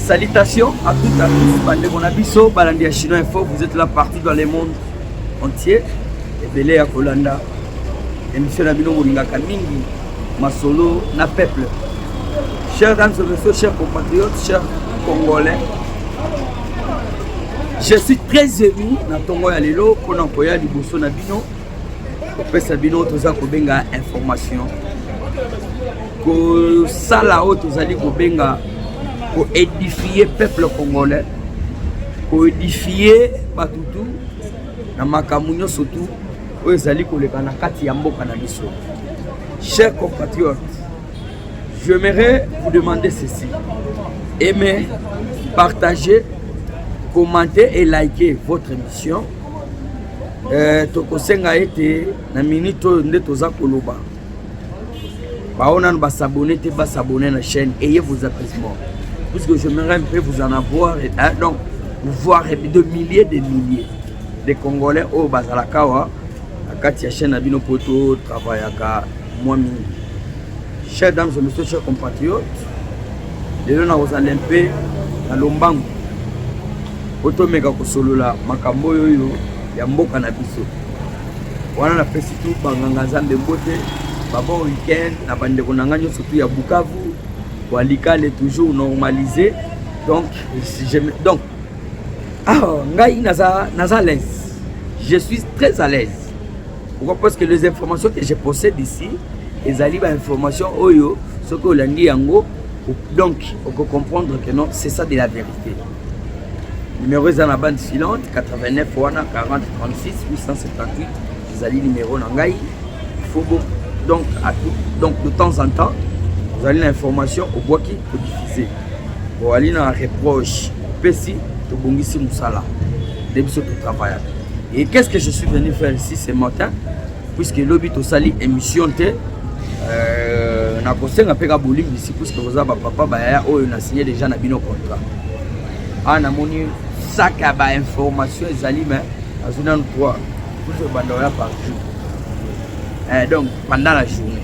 Salutations à toutes à tous, bandeko na biso, balandi ya Chinois Info, vous êtes là partout dans le monde entier. Ebele ya kolanda émission na bino bolingaka mingi masolo na peuple. Chers dames et messieurs, chers compatriotes, chers congolais, je suis très ému na tongo ya lelo mpona koya liboso na bino kopesa bino toza kobenga information kosala oyo tozali kobenga koedifie peuple congolais koedifie bato tu na makambo nyonso tu oyo ezali koleka na kati ya mboka na biso cher compatriote j'aimerais vous demander ceci aimer partager commenter et liker votre émission Eh, tokosenga ete na minute oyo nde toza koloba baoyo nano basabone te basabone na chaîne eye vos apaisement puisque j'aimerais un peu vous en avoir hein, donc voir de milliers de milliers de congolais oyo bazalaka awa na kati ya chaîne na bino mpo totravaillaka mwa mingi Chers dames et messieurs, chers compatriotes, lelo nakozala mpe na lombango po tomeka kosolola makambo oyo oyo ya mboka na biso wana napesi tu banganga nzambe mbote babon weekend na bandeko na ngai nyonso tu ya bukavu walikale toujours normalisé donc je, donc ah, ngai naza, naza à l'aise je suis très à l'aise Pourquoi Parce que les informations que je possède ici, ezali ba informations oyo soki olandi yango donc oko comprendre que non c'est ça de la vérité. Numéro eza na bande filante 89 wana 40 36 878 ezali numéro na ngai. Il faut bon donc à tout, donc de temps en temps, vous allez l'information au bois qui diffuser. Boali na reproche pesi tobongisi musala nde biso totravaillaka et qu'est ce que je suis venu faire ici ce matin puisque lobi tosali émission te euh, nakosenga mpe ka bolimbisi puisque boza bapapa bayaya oyo na signe déjà na bino contrat awa ah, namoni sac ya bainformation ezali mais azwi nanu 3 puisque banda oya par jour eh, donc pendant la journée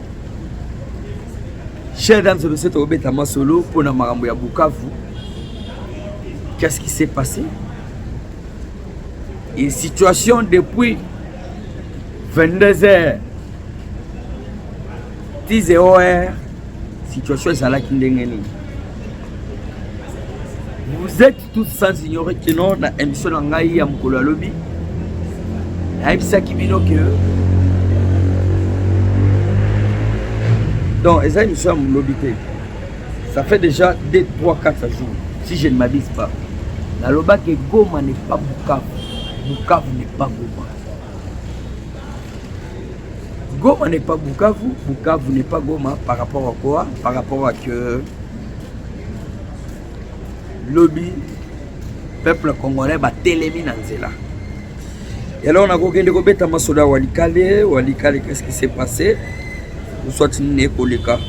Chers dames et messieurs, tokobeta masolo mpo na makambo ya Bukavu. Qu'est-ce qui s'est passé? Et situation depuis 22 heures tis eor situation ezalaki ndenge nini vous êtes tout sans ignorer que non na émission na ngai ya mokolo ya lobi nayebisaki bino ke donc eza émission ya molobi te ça fait déjà 2 3 4 jours si je ne m'abuse pas nalobaki goma n'est pas bukavu bukavu n'est pas goma goma n'est pas bukavu bukavu n'est pas goma par rapport à quoi par rapport à que lobi peuple congolais batelemi na nzela eloko nakokende kobeta masolo ya walikale walikale qu'est-ce qui s'est passé oswati nini ekoleka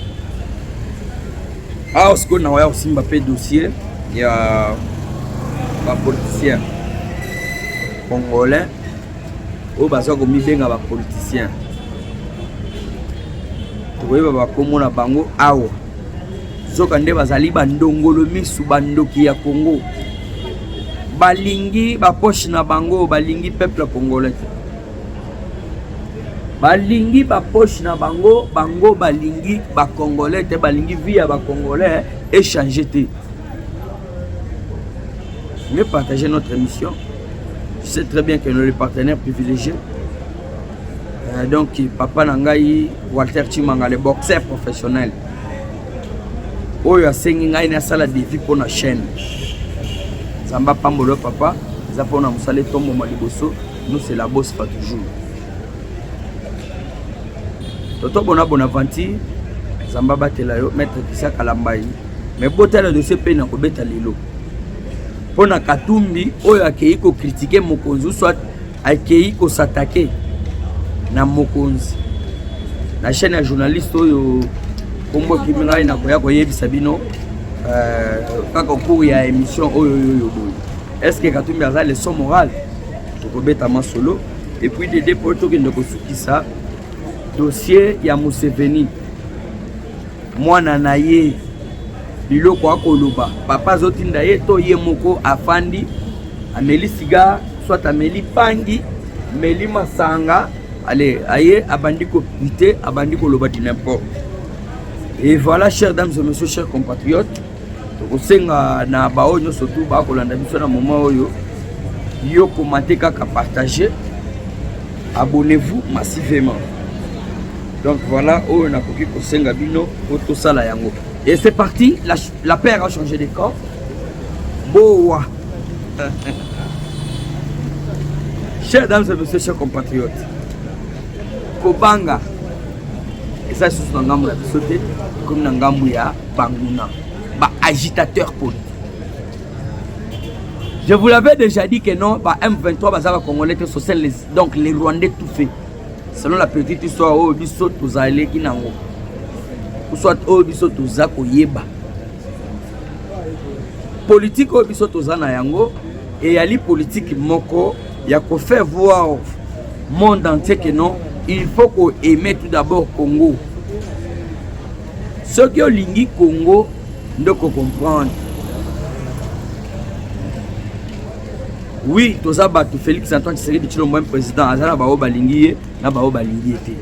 awa ah, sikoyo nakoya kosimba mpe dossier ya bapoliticien congolais oyo baza komibenga bapoliticien tokoyeba bakomona bango awa Zoka nde bazali ba ndongolo misu ba ndoki ya Congo. Balingi ba poche na bango, balingi peuple congolais. Balingi ba poche na bango, bango balingi ba congolais te, balingi vie ya ba congolais échanger te. Mais partager notre émission. Je sais très bien que nous les partenaires privilégiés Euh, donc papa na ngai walter chimanga le boxeur professionnel oyo asengi ngai nasala defi mpo na chaîne nzambe apambolo papa eza mpona mosala etomboma liboso nous c'est la bosse pas toujours toto bona bonaventure nzambe abatela yo maître kisia kalambai mais botala dossier mpe na kobeta lelo mpo na katumbi oyo akei kokritike mokonzi soit akeyi kosatake na mokonzi na chaîne ya journaliste oyo kombo ekimi ngai nakoya koyebisa bino euh, kaka cour ya émission oyo oyo boye est ce que katumbi aza leçon morale tokobeta masolo et puis dede mpo tokende kosukisa dossier ya museveni mwana na ye biloko akoloba papa azotinda ye to ye moko afandi ameli siga soit ameli pangi meli masanga ale aye abandi kopite abandi koloba du n'importe et voilà chers dames et messieurs chers compatriotes tokosenga na baoyo nyonso tu bakolanda biso na moment oyo yo komate kaka partage abonnez-vous massivement donc voilà oyo nakoki kosenga bino po tosala yango et c'est parti la, la paire a changé de camp bowa chers dames et messieurs chers compatriotes kobanga eza lisusu na ngambo ya biso te ekomi na ngambo ya banguna ba agitateur politique Je vous l'avais déjà dit que non, bah M23 bazala congolais te social les donc les rwandais tout fait. Selon la petite histoire oyo biso tozaleki nango. Ou soit oyo biso toza koyeba. Politique oyo biso toza na yango eyali politique moko ya ko faire voir au monde entier que non, il faut ko aimer tout d'abord Congo. Soki olingi Congo nde ko comprendre oui toza bato félix antoine tshisekedi tshilombo meme président aza na baoyo balingi ye na baoyo balingi ye te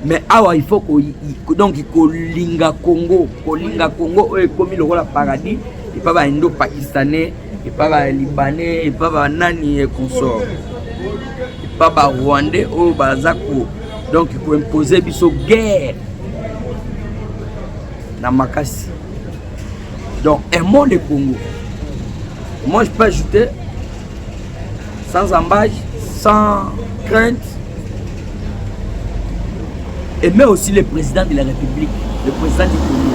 mais awa il faut ko, donc kolinga congo kolinga congo oyo ekomi lokola paradis epa baindo pakistanais epa ba libanais epa ba nani et consort epa ba rwandais oyo oh, baza ko donc koimpose biso guerre na makasi donc aimons le congo moi je peux ajouter sans embâche sans crainte et mais aussi le président de la république le président du congo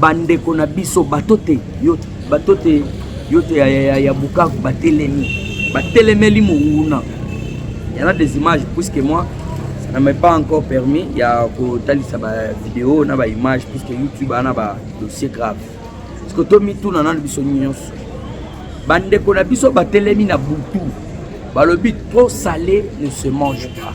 bandeko na biso bato te yo bato te yo te ya, ya, ya bukavu batelemi batelemeli monguna yana des images puisque moi ça na m'est pas encore permis ya kotalisa bavideo na baimage puisque youtube ana badossier grave parceke tomituna nano biso nyonso bandeko na biso batelemi na butu balobi trop sale ne se mange pas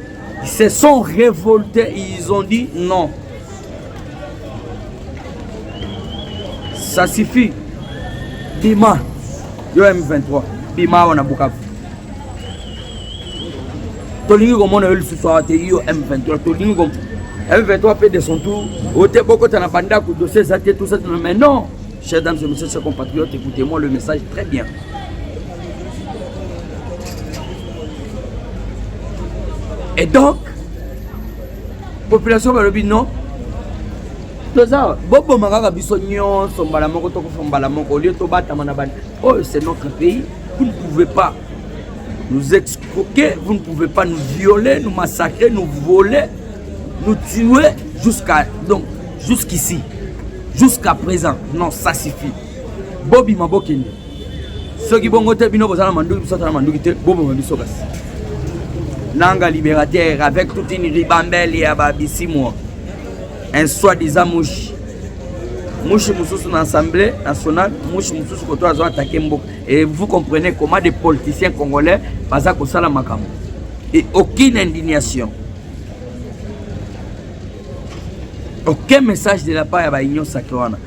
Ils se sont révoltés et ils ont dit non. Ça suffit. Bima. Yo M23. Bima wana Bukavu. Tolingi komona yo lisusu awa te yo M23. Tolingi komona M23 mpe de son tour ote bokota na bandako dossier eza te tout ça mais non chers dames et messieurs chers compatriotes écoutez moi le message très bien et donc population balobi non toza boboma kaka biso nyonso mbala moko tokufa mbala moko olie tobatama na bani oyo oh, c'est notre pays vous ne pouvez pas nous excroquer vous ne pouvez pas nous violer nous massacrer nous voler nous tuer jusqu'à donc jusqu'ici jusqu'à présent non ça suffit bobima bokende soki bongo te bino boza na manduki biso aza na manduki te boboma biso kasi nanga libérateur avec toute une ribambelle ya babisimwa un soi disant mushi mushi mosusu na assemblée nationale mushi mosusu koto azo atake mboka et vous comprenez comment des politiciens congolais baza kosala makambo et aucune indignation aucun message de la part ya baunion sacré wana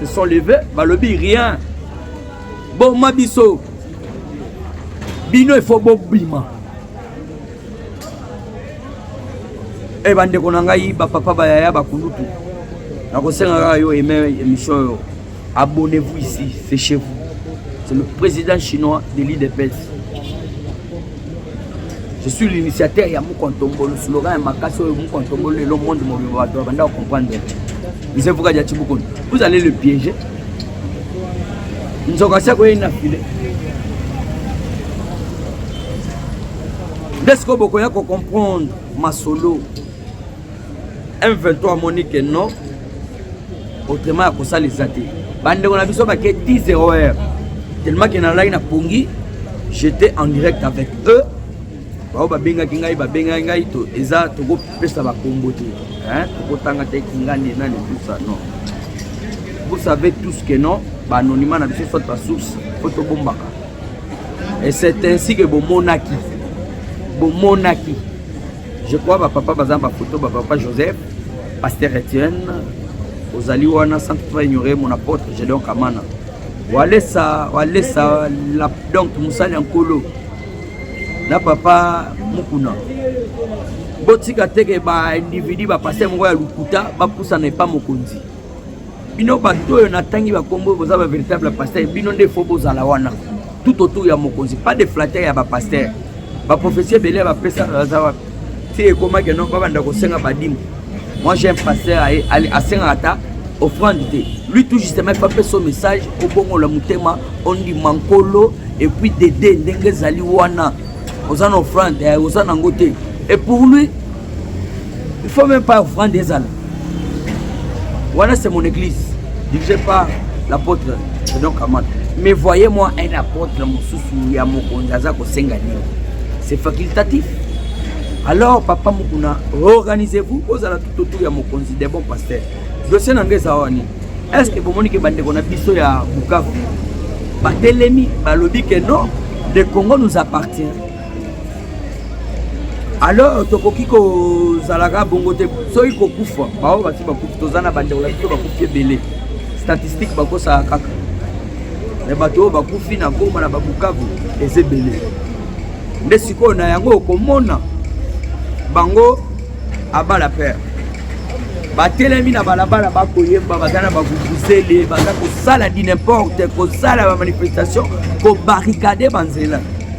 se sont levés balobi rien boma biso bino ifo bobima e bandeko na ngai bapapa bayaya bakulutu nakosenga kaka yo eme émission oyo abonnez-vous ici c'est chez vous c'est le président chinois de l'idps je suis l'initiateur ya moko ntombolo slogan ya makasi oyo moko ntombolo lelo monde mobimba bato babanda kocomprendre mise vuka dia tibukoni vous allez le piéger nzoka si akoyei na file nde sikoyo bokoya kocomprendre masolo M23 amoni que non autrement ya kosala eza te bandeko na biso bake 10 erreur tellement ke nalaki na pongi j'étais en direct avec eux bao babengaki ngai babengaki ngai to eza tokopesa bakombo te tokotanga te kingani nani tusa non vous savez tous que non baanonyma na biso soit basource po tobombaka et c'est ainsi que bomonaki bomonaki Je crois ba papa baza ba photo ba papa Joseph, pasteur Etienne, ozali wana sans toutefois ignorer mon apôtre Gédéon Kamana. Walesa walesa la donc musali nkolo na papa Mukuna. Botika teke ba individu ba pasteur moko ya lukuta ba pusana epa mokonzi. bino bato oyo natangi bakombo oyo boza ba véritable pasteur bino nde fo bozala wana tout autour ya mokonzi pas de flatter ya bapasteur baprofesi ebele ya bapesa baza wapi ti ekomaki no babanda kosenga badimo moi j'ai un pasteur asengaka ata offrande te lui tout justement efa mpe so message obongola motema ondima nkolo epuis dede ndenge ezali wana oza na offrande eh, oza nango te et pour lui Il faut même pas offrande ezala. Voilà c'est mon église dirigée par l'apôtre Fredon Kamata. Mais voyez-moi un apôtre mosusu ya mokonzi aza kosenga nini. C'est facultatif. Alors papa Mukuna, organisez-vous ozala tout autour ya mokonzi des bons pasteurs. Dossier na ngai eza wani. Est-ce que bomoni ke bandeko na biso ya Bukavu batelemi balobi ke non le Congo nous appartient alors tokoki kozalaka bongo te soki kokufa baoyo basi bakufi toza na bandeko na biso bakufi ebele statistique bakosaka kaka me bato oyo bakufi na goma na babukavu eza ebele nde sikoyo na yango okomona bango abala pere batelemi na balabala bakoyemba baza na bavuvuzele baza kosala dinimporte kosala bamanifestation kobarikade banzela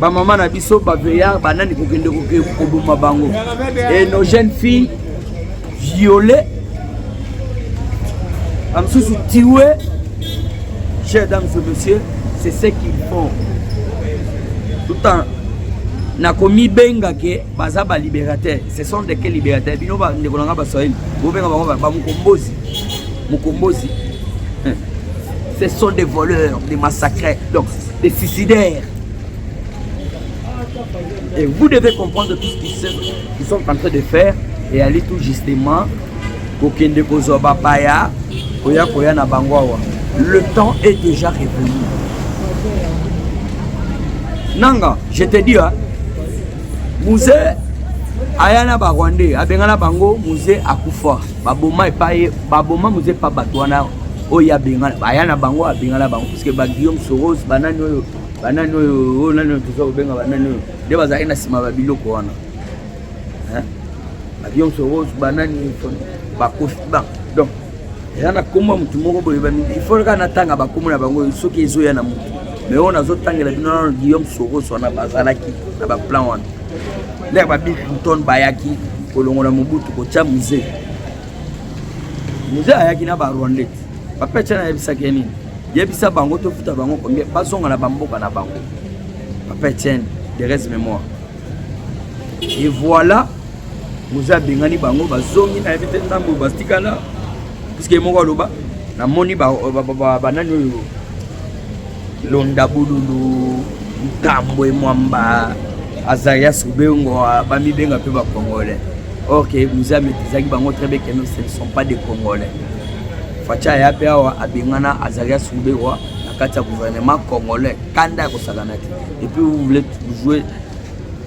ba mama na biso ba veya ba nani kokende koboma bango et nos jeunes filles violées bamisusu tiwe chers dames et messieurs c'est ce qu'ils font tout en nakomibenga ke baza balibérateur ce sont de quel libérateur bino bandeko na ngai baswahili bobenga bango bamokombozi mokombozi ce sont des voleurs des massacres donc des suicidaires. Et vous devez comprendre tout ce qu'ils sont en train de faire et aller tout justement kokende kozwa bapaya koya koya na bango awa le temps est déjà révolu nanga je te dis muze aya na barwandais abengana bango muze akufa baboma epai baboma muze epa bato wana oyo abengana aya na bango abengana bango Parce que ba Guillaume Soros banani oyo banani oyo oyo oh, nani oyo toza kobenga banani oyo nde bazalaki na nsima ba biloko wana ba Guillaume Soros banani bakofi ba donc eza na nkombo ya motu moko boye ifo kaka natanga bakombo na bango soki ezoya na motu mais oyo nazotangela bino nano Guillaume Soros wana bazalaki na baplan wana nde ya ba Bill Clinton bayaki kolongola Mobutu kotya musee Mzee ayaki na ba Rwandais. Papa Etienne ayebisaki ye nini? Yebisa bango tofuta bango combien bazonga na bamboka na bango. Papa Etienne, de reste mémoire. Et voilà, Mzee abengani bango bazongi na yebi te ntango bastikala puisque ye moko aloba namoni banani oyo Londa bululu ntambwe mwamba azarias ubengo bamibenga mpe bacongolais or ke muze ametrizaki bango très bien keno ce ne sont pas des congolais facha aya mpe awa abengana azarias ubengo na kati ya gouvernement congolais kanda ya kosakana te et puis vous voulez jouer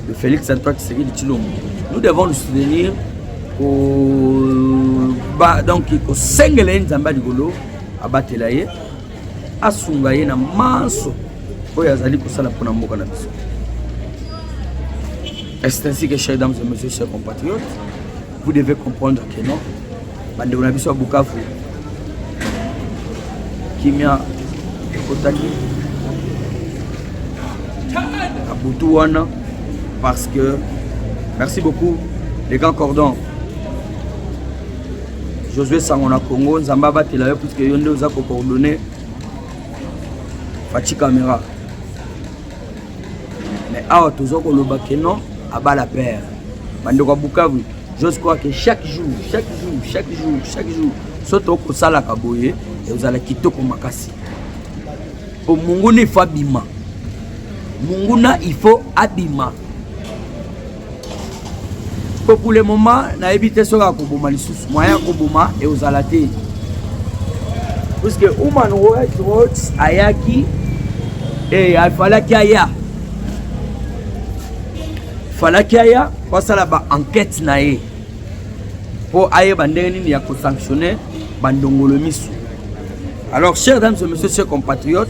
de félix antoine tshisekedi tshilombo nous devons nous soutenir donc kosengela ye nzambe ya likolo abatela ye asunga ye na manso oyo azali kosala mpona mboka na biso est ainsi que chers dames et messieurs chers compatriotes vous devez comprendre que non bandeko na biso ya bukavu kimia ekotaki na butu wana parce que merci beaucoup les grands cordons Josué Sango na Congo, Nzambe abatela yo puisque yo nde oza ko coordonner Fatshi Camera. Mais awa tozo koloba que non abala père. Bandeko ya Bukavu, j'ose croire que chaque jour, chaque jour, chaque jour, chaque jour soki tokosalaka boye ezala kitoko makasi po monguna ifo abima monguna ifo abima po pour le moment nayebi te soki akoboma lisusu moyen akoboma ekozala te puisque human rights ayaki e afalaki aya falaki aya po asala ba enquête na ye po ayeba ndenge nini ya kosanctionne bandongolo misu alors chers dames et messieurs chers compatriotes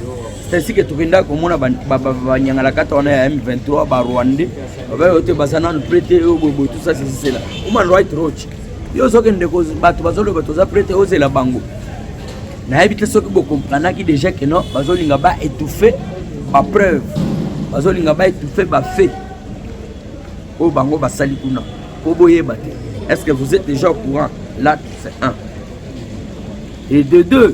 c'est ainsi que tokendaki komona banyangalakata wana ya m23 barwandais Baba ote baza nanu prete yo boye boye tout ça c'est cela. Human right watch. Yo ozokende ko bato bazoloba toza prete ozela bango. Nayebi te soki bokomprenaki déjà que non bazolinga ba étouffer ba preuve. Bazolinga ba étouffer ba fait. Oyo bango basali kuna. Po boyeba te. Est-ce que vous êtes déjà au courant? Là, c'est un. Et de deux,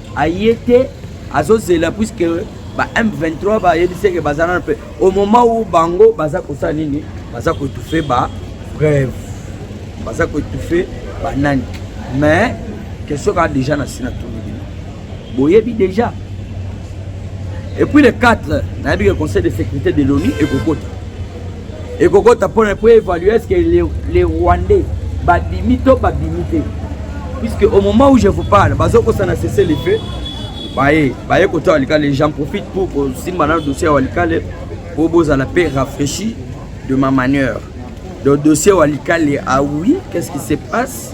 aye te azozela puisque ba M23 bayebisi ke baza nano mpe au moment où bango baza kosala nini baza koetufe ba brève baza koetufe banani mais question kaka déjà na si na tuni bino boyebi déjà et puis le 4 nayebi ke conseil de sécurité de l'onu ekokota ekokota mpona po évalue est ce que les, les rwandais babimi to babimi te puisque au moment où je vous parle bazokosana cesse le feu baye baye koto walikale j'en profite pour kosimba na dossier ya walikale mpo bozala mpe rafraîchi de ma manière donc dossier walikale ah oui qu'est ce qui se passe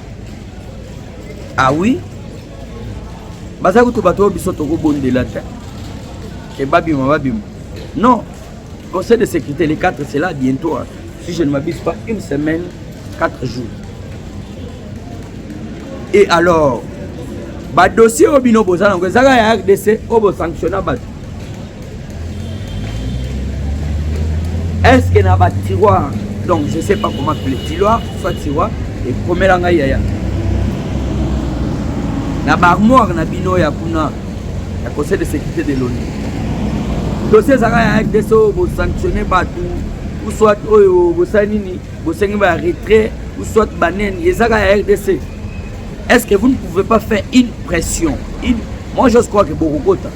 Ah oui baza kutu bato oyo biso tokobondela te ke babima babima non conseil de sécurité les 4 c'est là bientôt hein. si je ne m'abuse pas une semaine 4 jours et alors badossier oyo bino boza nango ezaka ya rdc oyo bosanctionna bato est ce que na batiroir donc je sais pas comment appeler tiroir soit tiroir ekomela ngai yaya na baarmoire na bino ya kuna ya conseil de sécurité de l'onu dossier ezalaka ya rdc oyo bosanctionne bato ou soit oyo bosali nini bosengi ba retrait ou soit banene ezaka ya rdc est ce que vous ne pouvez pas faire une pression une... moi je crois que bokokota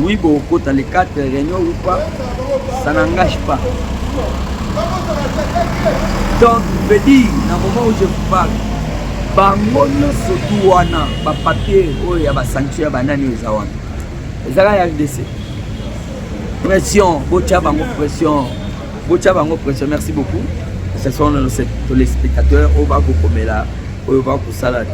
oui bokokota les quatre réunion ou pas ça n'engage pas donc veut dire na moment où je vous parle bango nyonso tu wana bapapier oyo ya basanction ya banani oyo eza wana ezaka ya rdc pression botya bango pression botia bango pression merci beaucoup ce sont les spectateurs oyo bakokomela oyo bakosala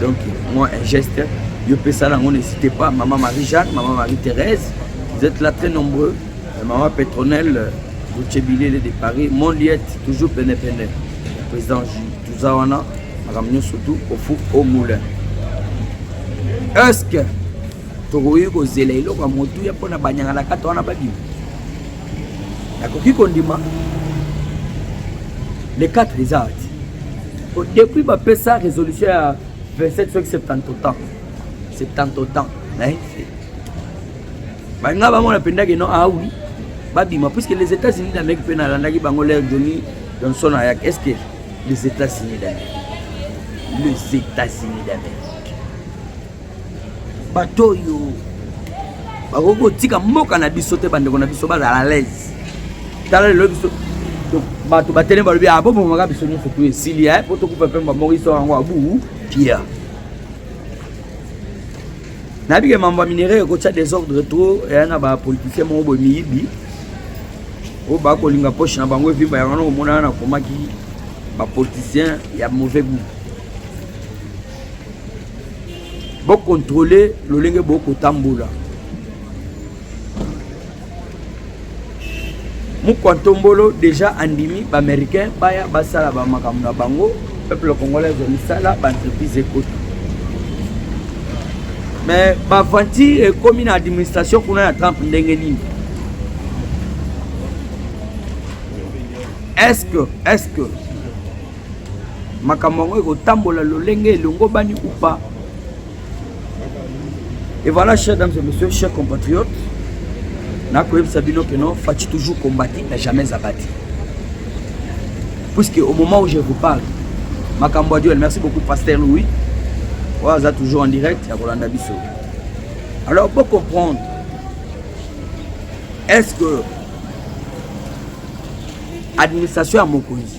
donc moi un geste yo pesa nango n'hésitez pas maman marie jeanne maman marie thérèse vous êtes là très nombreux euh, maman petronelle bocebilele euh, de paris mon liette toujours penepene président toza wana makambo nyonso tu ofu au moulin est ce que tokoki kozela eloko ya motuya mpo na banyangalakata wana babima nakoki kondima le 4 eza ati depuis bapesa résolution ya 27 soki 70 autant 70 autant naye te balinga bamona mpendaki no awi ah babima puisque les états-unis d'amérique mpe nalandaki bango lere joni johnson ayaki est ce que les états-unis d'amérique les états-unis d'amérique bato oyo bakoki kotika mboka na biso te bandeko na biso bazala alaise tala lelo biso bato batelemi balobi ah, bobomaka biso nyonso tu esili eh, po tokufa mpe bamoko iso yango abu pia nayebi ke mambo ya minerai ekotya desordre trop eya na bapoliticien moko boye miyibi oyo bakolinga poche na bango evimba yango na komonana nakomaki bapoliticien ya mauvais gout Bo contrôler lolenge bo kotambola. Mukwantombolo déjà andimi ba américains baya basala ba makambo na bango peuple congolais ezali sala ba entreprise ekota mais baventure ekomi na administration kuna ya trump ndenge nini est ce que est ce que makambo yango ekotambola lolenge elongobani ou pas et voilà chers dames et messieurs chers compatriotes nakoyebisa bino que non faci toujours combati na jamais abati puisque au moment où je vous parle makambo ya duel merci beaucoup pasteur louis oyo aza toujours en direct ya kolanda biso alors bo comprendre est ce que administration ya mokonzi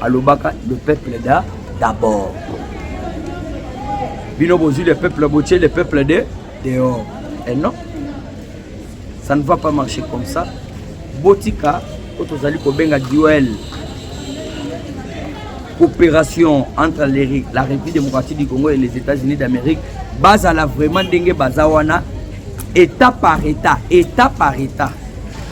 alobaka le peuple da d'abord bino bozwi le peuple botie le peuple de dehors et non ça ne va pas marcher comme ça botika oyo tozali kobenga duel coopération entre la république démocratique du congo et les états-unis d'amérique bazala vraiment ndenge baza wana état par état état par état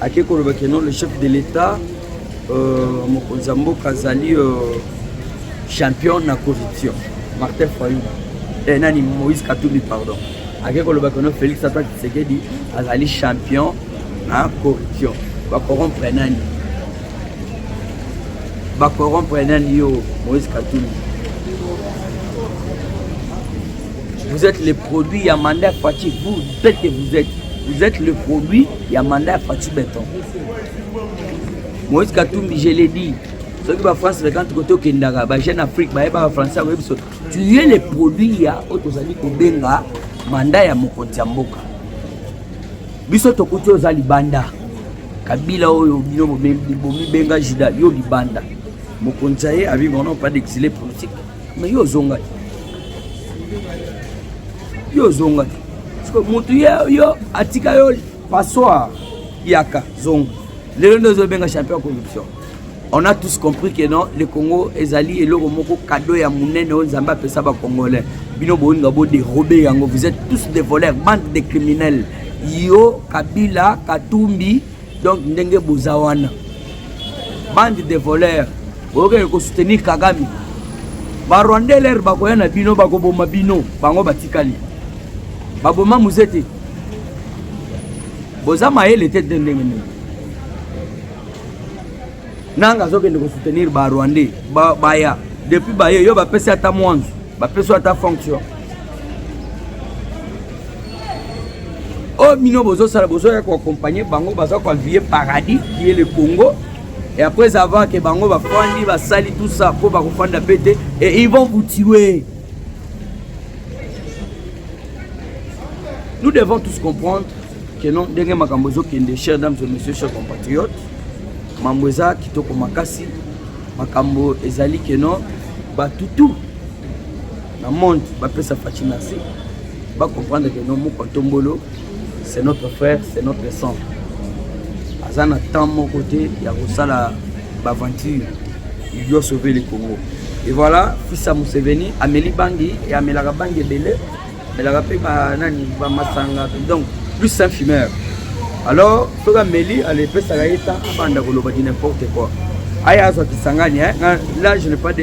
ake koloba ke non le chef de l'etat euh, mokonzi ya mboka azali euh, champion na corruption martin fayou eh, nani moïse katumbi pardon ake koloba ke non félix ata tshisekedi azali champion na corruption bakorompre nani bakorompre nani yo moïse katumbi Vous êtes le produit ya mandat Fatshi. Vous êtes que vous êtes. Vous êtes le produit ya mandat Fatshi Beton. Moïse Katumbi, je l'ai dit. Ceux qui va France, c'est quand côté au Kendara, bah, Jeune Afrique, bah, bah, français, oui, parce que tu es le produit ya Otozali Kobenga, mandat ya Mokonzi ya Mboka. Biso tokuti oza libanda. Kabila oyo bino bomi benga Judas, yo libanda. Mokonzi ya ye, abi, on n'a pas d'exilé politique. Mais yo zonga. Yo zonga. Parce que mutu yo atika yo passoire yaka zonga. Lelo ndio zo benga champion ya corruption. On a tous compris que non, le Congo ezali eloko moko cadeau ya munene oyo Nzambe apesa ba Congolais. Bino bolinga bo dérober yango. Vous êtes tous des voleurs, bande de criminels. yo kabila katumbi donc ndenge boza wana bande de voleur boyokende kosoutenir kagame barwandais lere bakoya na bino bakoboma bino bango batikali baboma muze te boza mayele te te ndenge ndenge nanga azokende kosoutenir barwandais baya depuis baye yo bapesi ata mwanzu bapesi ata fonction oyo bino bozosala bozoya koaccompagne bango baza koavier paradis ye le congo et après avoir ke bango bafandi basali tout ça mpo bakofanda mpe te et ils vont vous tuer nous devons tous comprendre que non ndenge makambo ezokende chers dames et messieurs chers compatriotes mambo eza kitoko makasi makambo ezali ke non batutu Na monde bapesa Fatshi merci ba comprendre que non moko tombolo c'est notre frère c'est notre sang aza na temps moko te ya kosala baventure il doit sauver le congo et voilà fils ya museveni ameli bangi e amelaka bangi ebele amelaka mpe banani bamasanga donc plus un fumeur alors soki ameli alepesaka ye ta abanda koloba di n'importe quoi aya azwa kisangani eh? là je n'ai pas de